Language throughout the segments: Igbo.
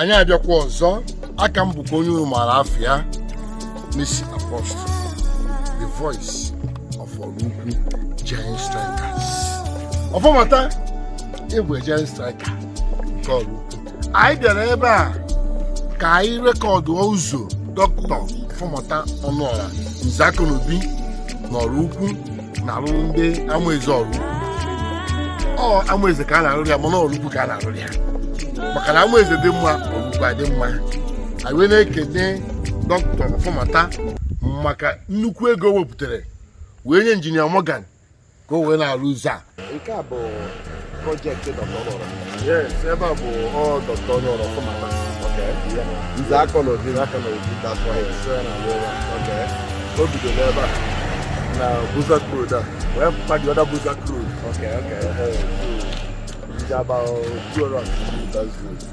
anyị abịakwa ọzọ aka m bụkwa onye unu maara afa ya MC Apostle the voice of Ọraukwu Giant Strides Ọfọmata ịbụ giant strides nke ọrụ anyị bịara ebe a ka anyị rekọdụ ụzọ dọkịta Ọfọmata Ọnụọra Nze Akọnaobi na Ọraukwu na-arụrụ ndị Amaeze ọ bụrọ Amaeze ka a na-arụrụ ya mana Ọraukwu ka a na-arụrụ ya maka na Amaeze dị mma Ọraukwu adị mma anyị wee na-ekene dọkịta Ọfọmata maka nnukwu ego o wepụtara wee nye injinia Morgan ka o wee na-arụ ụzọ a nke a bụ project ebe a bụ dọkta Ọnụọra Ọfọmata Nze Akọnaobi aka na obi o bidoro ebe a na buza road a wee pụta the other buza road dị about 200 meters road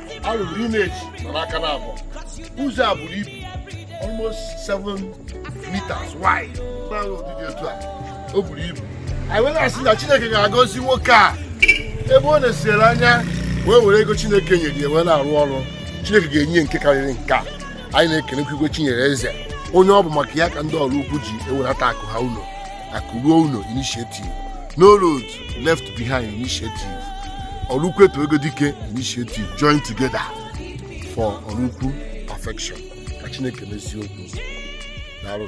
a rụrụ drainage n'aka na abụọ ụzọ a buru ibu almost 7 meters wide n'ala ụdịdị otu a o buru ibu anyị wee na-asị na chineke ga-agọzi nwoke a ebe ọ na-esere anya wee were ego chineke nyere ya wee na-arụ ọrụ chineke ga-enye ya nke karịrị nke a anyị na-ekenekwa Igwe Chinyereeze onye ọ bụ maka ya ka ndị Ọraukwu ji ewelata akụ ha ụnọ akụ ruo ụnọ initiative no road left behind initiative Ọraukwu eto ego dike initiative join together for Ọraukwu perfection ka chineke mezie okwu daalụ